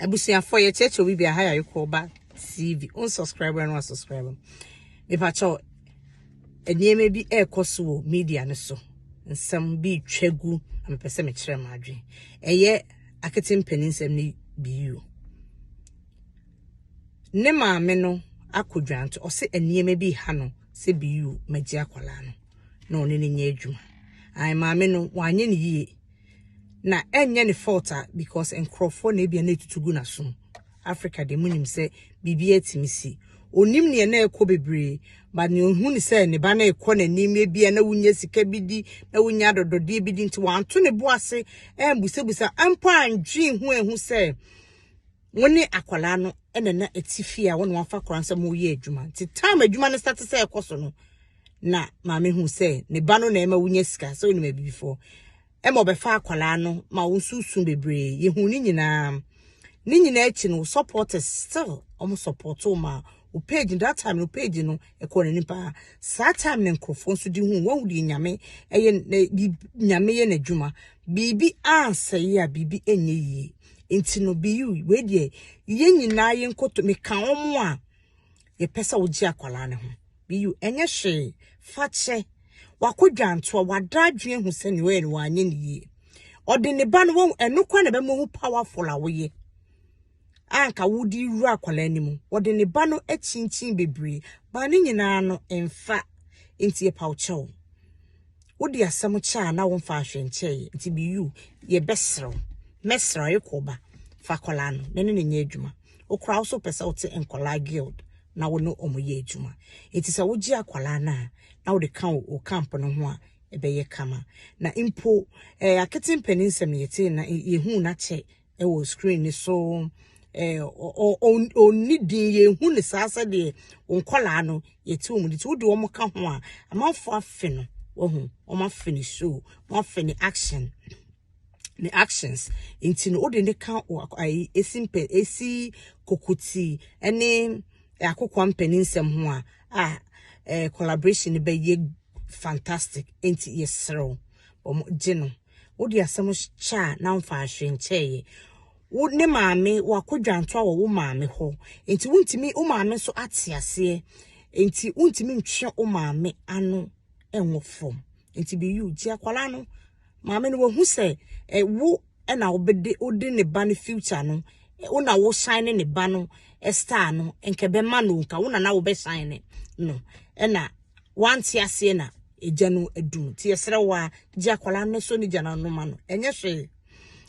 abusuafoɔ yɛkyerɛkyerɛ obi bia ha yɛ ayokɔba tv on subscribe no asubscribe mepakyɛ nneɛma bi ɛrekɔ so wɔ media no so nsɛm bi twa gu na mepɛ sɛ mekyerɛ m adwene ɛyɛ akete mpanin nsɛm no bio ne maame no akɔ dwanto ɔsɛ nneɛma bi ha no sɛ bio magye akwadaa no na ɔne no nyɛ adwuma ae maame no wanyɛ no yie na ɛnyɛ ne fault a because nkurɔfoɔ na ebia na etutu gu n'asom Africa deɛ mo nim sɛ biribi atumi si onim neɛ na ɛkɔ bebree but neɛ ohu ne sɛ ne ba na ɛkɔ n'anim ebia na wonya sika bi di na wonya adɔdɔdeɛ bi di nti wanto ne bo ase ɛmbusabusa mpo andwen ho ehu sɛ Wo ne akwadaa no na ɛna ɛte fie a wo na wafa koraa sɛ moyɛ adwuma. Nti tam adwuma no sate sɛ ɛkɔ so no, na maame hu sɛ ne ba no na ɛma wonya sika sɛ wonim abibifoɔ. Ɛma ɔbɛfa akwadaa no ma wo nso su bebree. Yɛhu ne nyinaa. Ne nyinaa akyi no, wo supporters still wɔn support wo ma wo page no that time no page no ɛkɔ n'anim paa saa time no nkurɔfoɔ nso de hu wɔn deɛ nyame ɛyɛ na bi nyame yɛ n'adwuma biribi ansɛe a biribi ɛnyɛ yie nti no biyu wei deɛ yɛn nyinaa yɛn nkoto meka wɔn a yɛpɛ sɛ wogye akwadaa no ho biyu ɛnyɛ hwee fakyɛ wakɔ dwantoa wada adwene ho sɛ nea ɔyɛ no wanyɛ ne yie ɔde ne ba no wɔn ɛno kora na ɛbɛma ho powerful a woyɛ anka wodi wura akwadaa no mu ɔde ne ba no akyinkyin bebree baa ne nyinaa no mfa nti yɛpa wo kyɛw. wode asɛm kyɛ a na womfa ahwɛ nkyɛe nti bi you yɛbɛsrɛ wo mɛsrɛ wo ekɔ ba fa akwadaa no na ne ne nyɛ adwuma wokora wo so pɛ sɛ wote nkwadaa guild na wo ne wɔn yɛ adwuma nti sɛ wogye akwadaa no a na wode ka wo wo camp no ho a ɛbɛyɛ kama na mpo ɛɛ akete mpanin nsɛm yɛte na yɛhu na kyɛ wɔ screen no so eh, ɔnni din yɛhu ne saa sɛdeɛ nkɔlaa no yɛte wɔn de ti wode wɔn ka ho a amanfoɔ afe no wahu wɔn afe ne show wɔn afe ne action ne actions nti no wode ne ka ayi esi mpɛ esi kokuti ɛne akokwa mpanin nsɛm ho a a eh, collaboration no bɛyɛ fantastic nti yɛsrɛw wɔn gye no. Wode asɛm hyɛ a na mfaa hwee nkyɛeɛ. Wo ne maame wakɔ dwantoa wɔ wo maame hɔ. Nti wontumi wo maame nso ate aseɛ. Nti wontumi ntwe wo maame ano ɛnwɔ fam. Nti be you. Nti akwadaa no maame no wahu sɛ eh, wo ɛna wobɛde wode ne ba no future no eh, wo na wo shine ne ba no eh, star no nkɛbɛma no nka wo na na wobɛshine no ɛna Wante aseɛ na agya no adu no nti yɛsrɛ wo a gye akwadaa no so ne gya no ano ma no ɛnyɛ hwee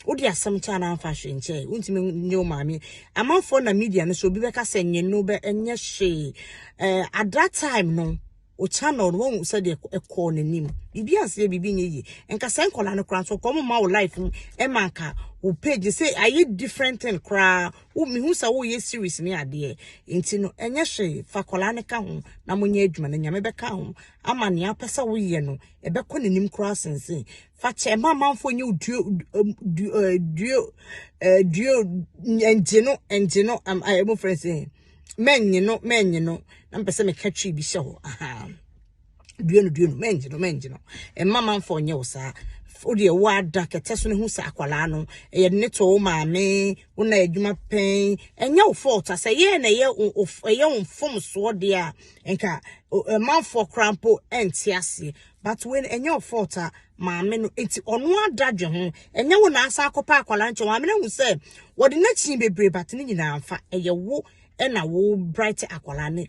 wode asɛm kyɛ anaa mfa hwee nkyɛ wontumi nyɛ wo maame amanfoɔ na media no so obi bɛka sɛ nye no bɛ ɛnyɛ hwee eh, at that time no o channel no wɔn sɛdeɛ ɛkɔɔ n'anim biribi anseɛ biribi nyɛ yie nka sɛ nkɔla no koraa nso kɔn mu ma wo life mu ɛma nka wo page sɛ ayɛ different thing koraa wo mehu sɛ woyɛ series ne adeɛ nti no ɛnyɛ hwee fa akwadaa no ka ho na monyɛ adwuma no nyame bɛka ho ama nea wopɛ sɛ woyɛ no ɛbɛkɔ n'anim koraa sensen fa kyɛ ɛma amanfoɔ nyɛ duo duo duo duo ɛngye no ɛngye no ɛmu fɛn sɛ mɛnye no mɛnye no na mpɛ sɛ meka twi bi hyɛ hɔ ahaa. dua no dua no mɛngye no mɛngye no mma manfo nyɛ wo saa wodeɛ woada kɛtɛ so no hu sɛ akwadaa no ɛyɛ ne to wo maame wo na adwuma pɛn ɛnyɛ wo fault sɛ yɛ na ɛyɛ ɛyɛ wo mfomsoɔ deɛ a nka manfoɔ koraa mpo ɛnte aseɛ but when ɛnyɛ wo fault a maame no nti ɔno ada dwe ho ɛnyɛ wo na asa akɔpa akwadaa nkyɛn maame no hu sɛ wɔde n'akyi bebree but ne nyinaa mfa ɛyɛ wo ɛna wo bright akwadaa ne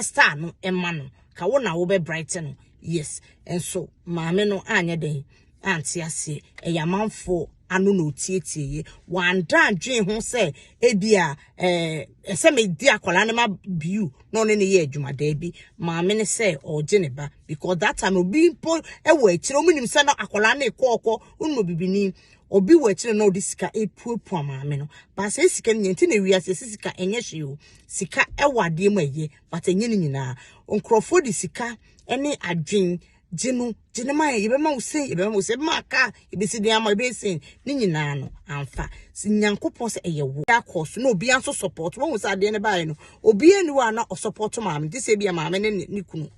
star no ma no ka wo na wo bɛ bright no yes nso maame no anyɛ den ante aseɛ ɛyɛ amanfoɔ ano na ɔtietie yɛ wanda adwene ho sɛ ebi a ɛɛ ɛsɛ medi akwadaa no ma biu na ɔne ne yɛ adwuma daabi maame no sɛ ɔregye ne ba because that time obi mpo ɛwɔ akyire wɔn nim sɛ na akwadaa no ekɔɔkɔ wɔn mu bibini obi wɔ akyire na ɔde sika epuapua maame no baasa sika no nyɛ nti na ewia sɛ sika ɛnyɛ hwee o Sika wɔ adeɛ mu a ɛyɛ but ɛnyɛ ne nyinaa. Nkurɔfoɔ de sika ne adwene gye no, gye no ma yɛbɛma wo sei, yɛbɛma wo sei, yɛbɛma wo kaa, yɛbɛsi dan ama, yɛbɛyɛ sei. Ne nyinaa no amfa. Sɛ Nyankopɔn sɛ ɛyɛ wo akɔ so na obiara nso support. Wɔn sɛ adeɛ no baeɛ no, obiara ni hɔ a na ɔsupport maame. Gye sɛ ebia maame ne ne kunu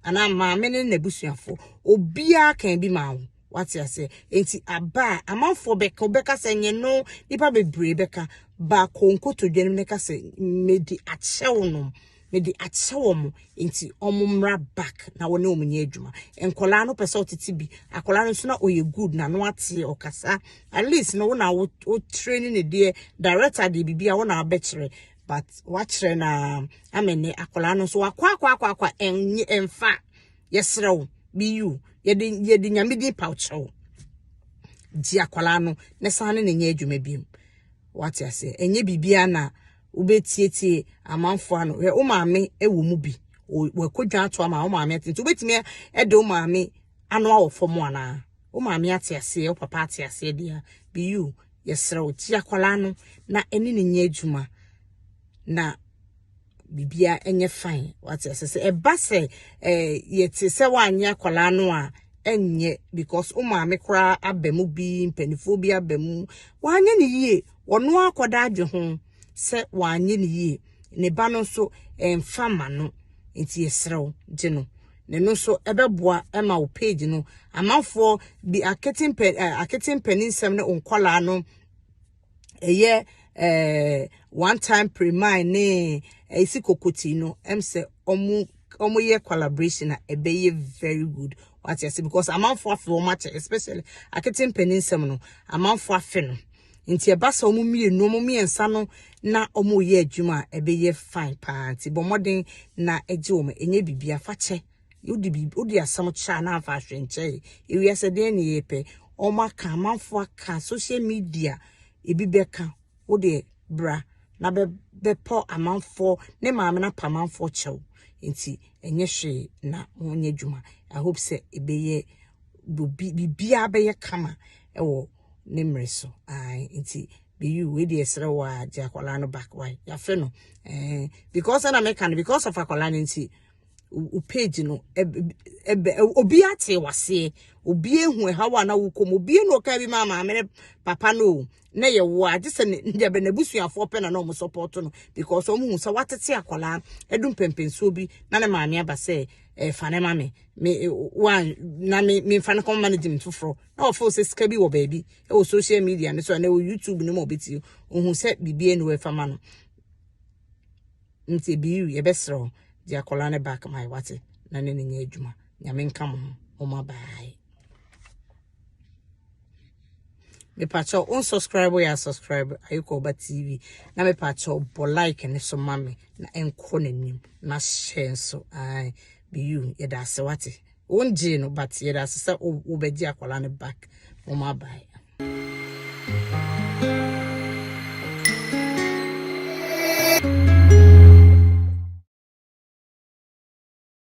anaa maame ne n'abusuafoɔ. Obiara kan bi maa wo. wate aseɛ nti aba a amanfoɔ bɛka wobɛka sɛ nyɛ no nipa bebree bɛka baako nkotodwe no bɛka sɛ mede akyɛ wo nom mede akyɛ wɔn nti wɔn mmra back na wɔne wɔn nyɛ adwuma nkɔlaa no pɛ sɛ ɔtete bi akɔlaa no nso na ɔyɛ good na no ateɛ ɔkasa at least no wɔn a wɔtire ne ne deɛ director deɛ biribi a wɔn a abɛkyerɛ but wakyerɛ na amene akɔlaa no nso wakɔ akɔ akɔ akɔ ɛnfa. yɛsrɛ wo biyu yɛde yɛde nyame din paw kyerɛ wo gye akwadaa no na san ne ne nyɛ adwuma biom wate aseɛ ɛnyɛ biribiara na wobɛtietie amanfoɔ ano hwɛ wo maame wɔ mu bi wakɔdwa ato ama wo maame ate nti wobɛtumi de wo maame ano awɔ fam anaa wo maame ate aseɛ wo papa ate aseɛ deɛ biyu yɛsrɛ wo gye akwadaa no na ɛne ne nyɛ adwuma na bibia ɛnyɛ fine wate ase sɛ ɛba sɛ eh yɛte sɛ wanyɛ akwadaa no a ɛnyɛ because wo maame koraa aba mu bi mpanimfoɔ bi aba mu wanyɛ ne yie wɔn akɔda adwe ho sɛ wanyɛ ne yie ne ba no nso ɛmfa ma no nti yɛsrɛ wo gye no na ɛno nso ɛbɛboa ɛma wo page no amanfoɔ bi akete mpɛ akete mpaninsɛm ne nkɔlaa no ɛyɛ ɛɛ one time premine ne ɛsi kokoti no ɛm sɛ ɔmo ɔmo yɛ collaboration a ɛbɛyɛ very good wate ase because amanfo afe wɔn akyɛ especially akete mpanyin nsɛm no amanfo afe no nti ɛba sɛ wɔn mmienu wɔn mmiɛnsa no na wɔn yɛ adwuma a ɛbɛyɛ fine paa nti bɔ mmɔden na ɛgye wɔn ɛnyɛ biribi afakyɛ. Wode biribi wode asɛm kyɛ a na amfa ahwɛ nkyɛe. Ewiase dɛn na yɛpɛ? Wɔaka, amanfo aka, social media, ebi bɛka. Wode bra na bɛ bɛpɔ amanfo ne maame na pa amanfo kyɛw. Nti ɛnyɛ hwee na wɔnyɛ adwuma. I hope sɛ ɛbɛyɛ biribiara bɛyɛ kama ɛwɔ ne mmerɛ so. Ae nti Beyu wei deɛ ɛsrɛ wo a gye akwadaa no back why yɛafe no eh because ɛna meka no because of akwadaa no nti wo page no ɛbɛ obi ate waseɛ obi ehu ɛhaw a na wokɔ mu obi na ɔka bi ma maame ne papa no na yɛ wo a gye sɛ ne deɛ bɛ n'abusuafoɔ pɛ na na wɔn support no because wɔn hu sɛ watete akwadaa ɛdu mpɛmpɛnsuo bi na ne maame aba sɛ ɛfa eh, ne ma me me wa na me me nfa ne kɔn ma ne gye me foforɔ na wɔfo sɛ sika bi wɔ baabi ɛwɔ social media ne so ɛna ɛwɔ youtube ne mu ɔbɛti ohun sɛ biribi ɛna ɛfa ma no. nti ebiyiw yɛbɛsrɛ wo de akwadaa no back my wate na ne ne nyɛ adwuma nyame nka mo ho ɔma baae mepakyɛ wo unsubscribe yɛ subscribe ayikɔ ɔba tv na mepakyɛ wo bɔ like ne so ma me na ɛnkɔ n'anim na hyɛ nso ae biyiw yɛda ase wate Won gyee no but yɛda ase sɛ wo bɛgye akwadaa no back wɔn abae.